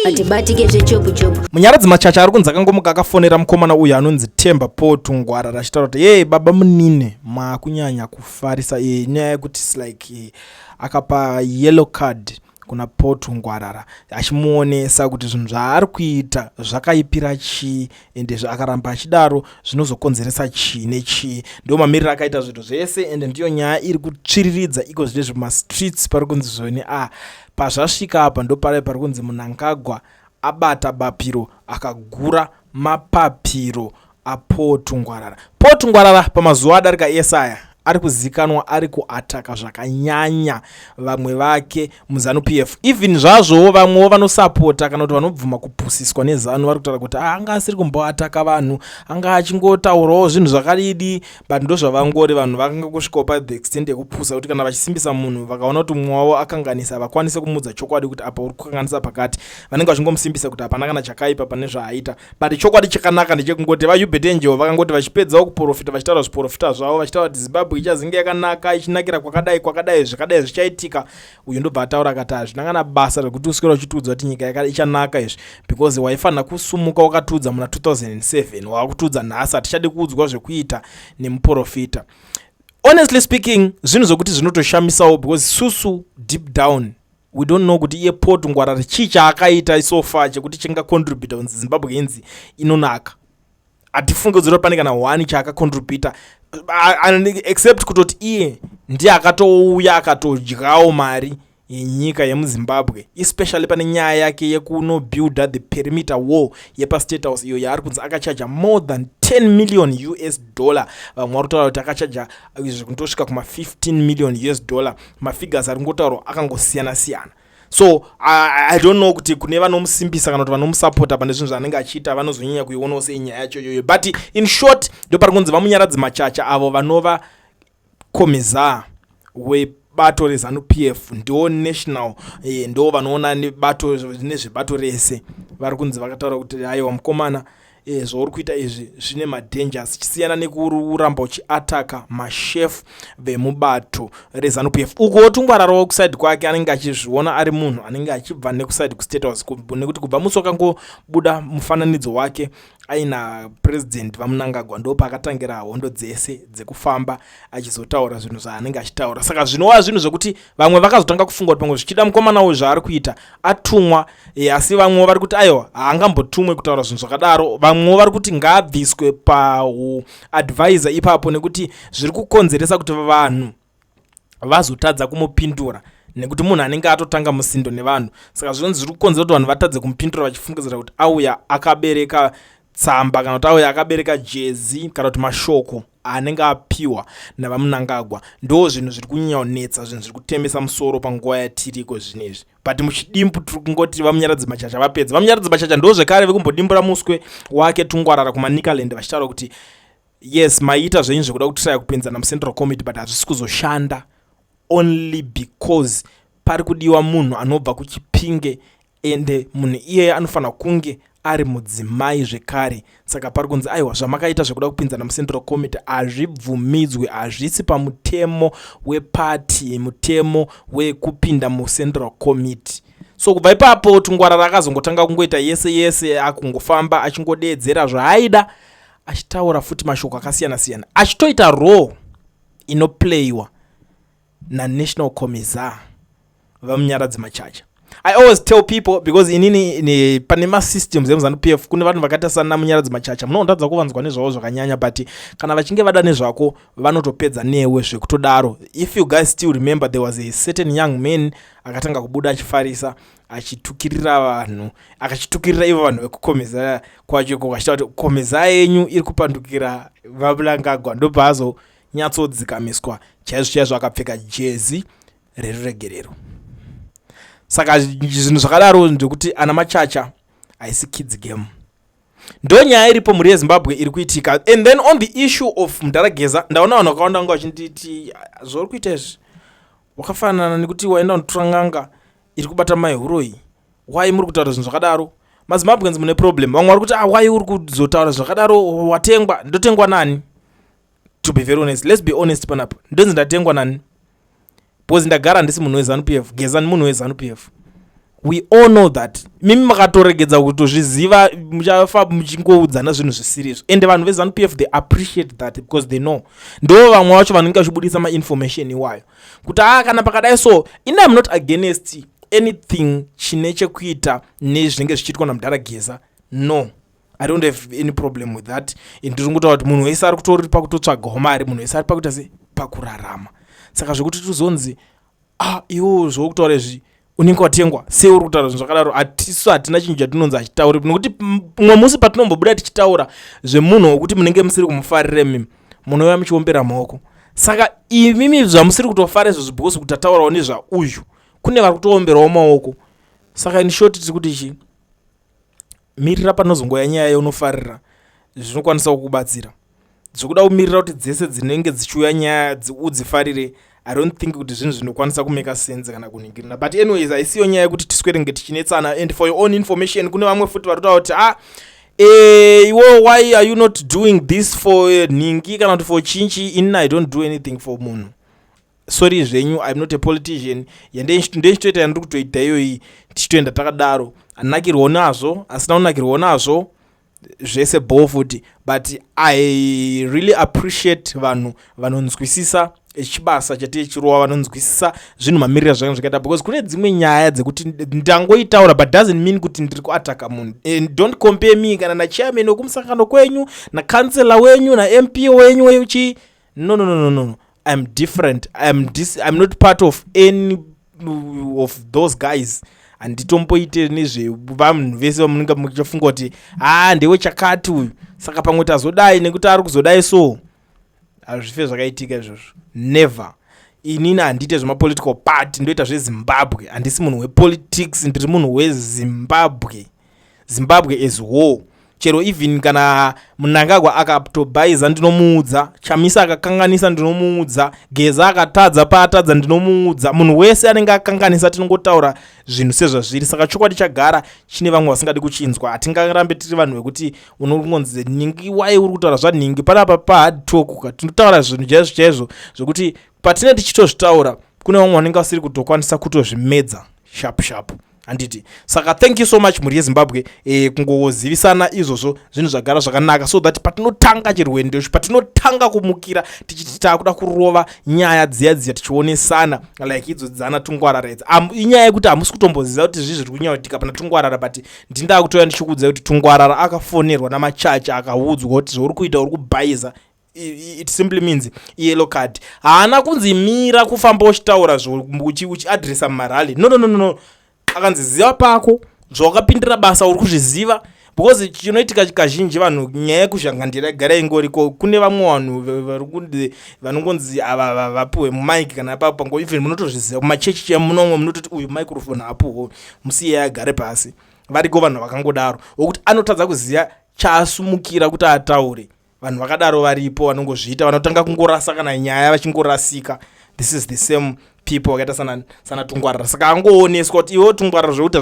hatibatike zvechopu chopu munyaradzi machacha ari kunzi akangomuka akafonera mukomana uyu anonzi temba po tungwara rachitaura kuti yee baba munine maakunyanya kufarisa e, nyaya yekuti slike e, akapa yellow card kuna po tungwarara achimuonesa kuti zvinhu zvaari kuita zvakaipira chii ende zvaakaramba achidaro zvinozokonzeresa chii nechii ndiwo mamiriro akaita zvinhu zvese ende ndiyo nyaya iri kutsviriridza iko zvine zvemastreets pari kunzi zvoni a ah, pazvasvika apa ndopare pari kunzi munangagwa abata bapiro akagura mapapiro apotungwarara potungwarara pamazuva adarika esaya ari kuzikanwa ari kuataka zvakanyanya vamwe vake muzanu p f even zvazvowo vamwewo vanosapota kana kuti vanobvuma kupusiswa nezanu vari kutaura kuti ah, anga asiri kumboataka vanhu anga achingotaurawo zvinhu zvakadidi but ndozvavangori vanhu vakanga kusvikawo pathe extent yekupusa kuti kana vachisimbisa munhu vakaona kuti mumwe wavo akanganisa havakwanise kumuudza chokwadi kuti apa uri kukanganisa pakati vanenge vachingomusimbisa kuti hapana kana chakaipa pane zvaaita but chokwadi chakanaka ndechekungoti vahubert angel vakangoti vachipedzawo kuprofita vachitaura zviprofita zvavo vachitaura kuti zimbabwe ichazinge yakanaka ichinakira kwakadai kwakadai zvakadai zvichaitika uyu ndobva ataura akati hazvina kana basa rekuti uswera uchitiudza kuti nyika ichanaka izvi because waifanira kusumuka wakatiudza muna 2007 wakutiudza nhasi hatichadi kuudzwa zvekuita nemuprofita honestly speaking zvinhu zvokuti zvinotoshamisawo because susu deep down we don't know kuti iye paul tungwarare chii chaakaita so far chekuti chingacontributa kunzi zimbabwe inzi inonaka hatifunge kuzora pane kana one chaakacontributa except kutoti iye ndiye akatouya akatodyawo mari yenyika yemuzimbabwe especially pane nyaya yake yekunobuilda the perimeter war yepastate house iyo yaari kunzi akachaja more than 10 million us dollar vamwe vari kutaura kuti akachaja zvekutosvika kuma 15 million us dollar mafigures ari kungotaurwa akangosiyana siyana so I, i don't know kuti kune vanomusimbisa kana kuti vanomusapota pane zvinhu zvaanenge achiita vanozonyanya kuionawo sei nyaya yacho iyoyo but in short ndo pari kunzi vamunyaradzi machacha avo vanova komizaa webato rezanu p f ndo national eh, ndo vanoona nebato nezvebato rese vari kunzi vakataura kuti aiwa mukomana e, zvauri kuita izvi zvine madangers chisiyana nekuramba uchiataka mashefu vemubato rezanup f uko wotungwararawo kusaidi kwake anenge achizviona ari munhu anenge achibva nekusaidi kustate house nekuti kubva musi wakangobuda mufananidzo wake aina president vamunangagwa ndopaakatangira hondo dzese dzekufamba achizotaura zvinhu zvaanenge achitaura saka zvinova zvinhu zvekuti vamwe vakazotanga kufunga kuti pamwe zvichida mukomana uyu zvaari kuita atumwa e, asi vamwewo vari kuti aiwa haangambotumwe kutaura zvinhu zvakadaro vamwewo vari kuti ngaabviswe pauadvisor ipapo nekuti zviri kukonzeresa kuti vanhu vazotadza kumupindura nekuti munhu anenge atotanga musindo nevanhu saka zvinonzi zviri kukonzera kuti vanhu vatadze kumupindura vachifungidzira kuti auya akabereka tsamba kana kuti auya akabereka jezi kana kuti mashoko anenge apiwa navamunangagwa ndo zvinhu zviri kunyanya kunetsa zvinhu zviri kutemesa musoro panguva yatiriko zvinezvi but muchidimbu tiri kungoti vamunyaradzi machacha vapedza vamunyaradzi machacha ndo zvekare vekumbodimbura muswe wake tungwarara kumanikaland vachitaura kuti yes maiita zvenyu zvekuda kutiraya kupinzana mucentral committee but hazvisi kuzoshanda only because pari kudiwa munhu anobva kuchipinge ende munhu iyeye anofanira kunge ari mudzimai zvekare saka pari kunzi aiwa zvamakaita zvekuda kupinzana mucentral committee hazvibvumidzwe hazvisi pamutemo wepati mutemo wekupinda mucentral committee so kubva ipapo tungwarara akazongotanga kungoita yese yese akungofamba achingodeedzera zvaaida achitaura futi mashoko akasiyana siyana achitoita role inoplayiwa naNational Commissar vaMunyaradzi Machacha. I always tell people because inini ne, pane masystems emuzanu PF kune vanhu vakaita sana Munyaradzi Machacha munotadza kuvanzwa nezvavo zvakanyanya but kana vachinge vada nezvako vanotopedza newe zvekutodaro. If you guys still remember there was a certain young man akatanga kubuda achifarisa achitukirira vanhu akachitukirira ivo vanhu vekukomeza kwacho ko vachitaura kuti komeza yenyu iri kupandukira vaBulangagwa ndopaazo so, nyatsodzikamiswa chaizvo chaizvo akapfeka jezi reruregerero saka zvinhu zvakadaro ndekuti ana machacha haisi kids game ndo nyaya iripo mhuri yezimbabwe iri kuitika and then on the issue of mdarageza ndaona vanhu vakawanda vanga vachinditi ah, zvauri kuita izvi wakafanana nekuti waenda unotora nganga iri kubata mai huroyi why muri kutaura zvinhu zvakadaro mazimbabweans mune problem vamwe vari kuti ah, why uri kuzotaura zvakadaro watengwa ndotengwa nani to be very honest let's be honest panapa ndonzi ndatengwa nani because ndagara handisi munhu wezanu p f gezani munhu wezanu p f we all know that mimi makatoregedza kutozviziva muchafa muchingoudzana zvinhu zvisiri izvo ende vanhu vezanup f they appreciate that because they know ndo vamwe vacho vanenge vachibudisa mainformation iwayo kuti haa ah, kana pakadai so in am not against anything chine chekuita nezvinenge zvichiitwa namudhara geza no i don't have any problem with that ndiri ngotaura kuti munhu wese ari kutori pakutotsvagawo mari munhu wese ari pakuita se pakurarama saka zvekuti tizonzi ah iwo zvokutaura izvi unenge watengwa sei uri kutaura zvinhu zvakadaro hatisu hatina chinhu chatinonzi achitauri nokuti mumwe musi patinombobuda tichitaura zvemunhu wokuti munenge musiri kumufarire mimi munouya muchiombera maoko saka imimi zvamusiri kutofara izvozvo because kuti ataurawo nezvauyu kune vari kutoomberawo maoko saka in short tiri kuti chii mirira panozongouya nyaya yaunofarira zvinokwanisawo kukubatsira zvekuda kumirira kuti dzese dzinenge dzichiuya nyaya udzifarire i don't think kuti zvinhu zvinokwanisa kumeka sense kana kuningirina but anyways haisiyo nyaya yekuti tiswerenge tichinetsana and for your own information kune vamwe futi vari kutaura kuti ah eh, iwo why are you not doing this for eh, nhingi kana kuti for chinchi inna i don't do anything for munhu sorry zvenyu im not a politician yandeindichitoita yandiri kutoita iyoyi tichitoenda takadaro anakirwawo nazvo asina kunakirwawo nazvo zvese bho futi but i really appreciate vanhu vanonzwisisa chibasa chatiye chirova vanonzwisisa zvinhu mamirira zvakanga zvakaita because kune dzimwe nyaya dzekuti ndangoitaura but doesn't mean kuti ndiri kuataka munhu and don't compare me kana nachairman wekumusangano kwenyu nacancellor wenyu namp wenyu weuchii no no no no no i'm different i'm dis i'm not part of any of those guys handitomboite nezvevanhu vese vamunenge muchafunga kuti haa ah, ndewe chakati uyu saka pamwe tazodai nekuti ari kuzodai so hazvife zvakaitika izvozvo never inini handiite zvemapolitical party ndoita zvezimbabwe handisi munhu wepolitics ndiri munhu wezimbabwe zimbabwe as whole chero even kana munangagwa akatobhaiza ndinomuudza chamisa akakanganisa ndinomuudza geza akatadza paatadza ndinomuudza munhu wese anenge akanganisa tinongotaura zvinhu sezvazviri saka chokwadi chagara chine vamwe vasingadi kuchinzwa hatingarambe tiri vanhu vekuti unokungonzi ningi wai uri kutaura zvaningi panapa pahard talk ka tinotaura zvinhu chaizvo chaizvo zvekuti patine tichitozvitaura kune vamwe vanenge vasiri kutokwanisa kutozvimedza shapu shapu handiti saka thank you so much mhuri yezimbabwe e, kungozivisana izvozvo zvinhu zvagara zvakanaka so that patinotanga chirwendo icho patinotanga kumukira tichiti taakuda kurova nyaya dziya dziya tichionesana like idzo dzana tungwarara idzi inyaya yekuti hamusi kutomboziva kuti zvii zviri kunyautika pana tungwarara but ndindaa kutouya ndichikuudzai kuti tungwarara akafonerwa namachacha akaudzwa kuti zvauri kuita uri kubhaiza it simply means yellow card haana kunzi mira kufamba uchitaura uchiadressa mumarally no no no no akanzi ziva pako zvawakapindira basa uri kuzviziva because chinoitika kazhinji vanhu nyaya yekuzhangandira igara ingoriko kune vamwe vanhu varikunzi vanongonzi ava vapiwe mumike kana apapo pango even munotozviziva kumachechi chiya munomwe munototi uyu microfone apuho musiye agare pasi variko vanhu vakangodaro vokuti anotadza kuziva chaasumukira kuti ataure vanhu vakadaro varipo vanongozviita vanotanga kungorasa kana nyaya vachingorasika this is the same people wakaita sana, sana tungwarira saka angooneswa kuti iwo tungwarira zvekuita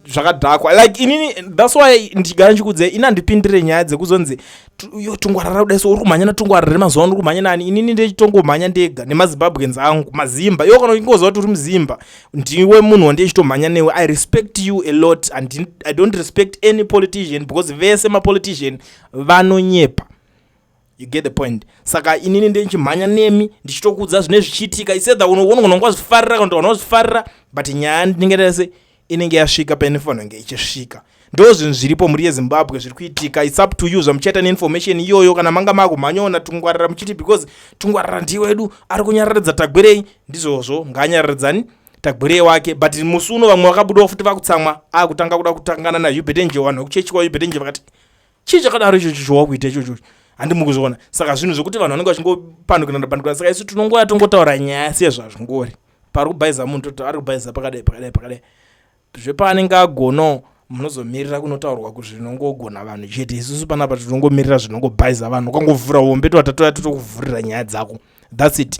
zvakadhakwa like inini thats why ndichigara ndichikudze ini handipindire nyaya dzekuzonzi yo tungwarira kudai so uri kumhanya natungwarira remazuva ano uri kumhanya nani inini ndechitongomhanya ndega nemazimbabweans angu mazimba iwo kana uchingoziva kuti uri muzimba ndiwe munhu wandiye chitomhanya newe i respect you a lot and i don't respect any politician because vese mapolitician vanonyepa you get the point saka inini ndichimhanya nemi ndichitokuudza zvine zvichiitika isetha unogona kwazvifarira kana kuti wazvifarira but nyaya ndinenge ndese inenge yasvika paine fanenge ichisvika ndo zvinhu zviripo mhuri yezimbabwe zviri kuitika its up to you zvamuchaita neinformation iyoyo kana manga makumhanyaona tungwarira muchiti because tungwarira ndiye wedu ari kunyararidza tagwerei ndizvozvo ngaanyararidzani tagwerei wake but musi uno vamwe vakabudawo futi vakutsamwa akutanga kuda kutangana nayubetenje vanhu vekuchechi kwayubetenje vakati chii chakadaro ichocho chowakuita ichocho handi mukuzviona saka zvinhu zvekuti vanhu vanenge vachingopandukirana pandukirana saka isu tinongoya tongotaura nyaya sezvazvingori pari kubhaiza munhu toti ari kubhaiza pakadai pakadai pakadai zvepaanenge agonawo munozomirira kunotaurwa kuti zvinongogona vanhu chete isusu panapa tinongomirira zvinongobhaiza vanhu ukangovhura hombe tovatatoya totokuvhurira nyaya dzako thats it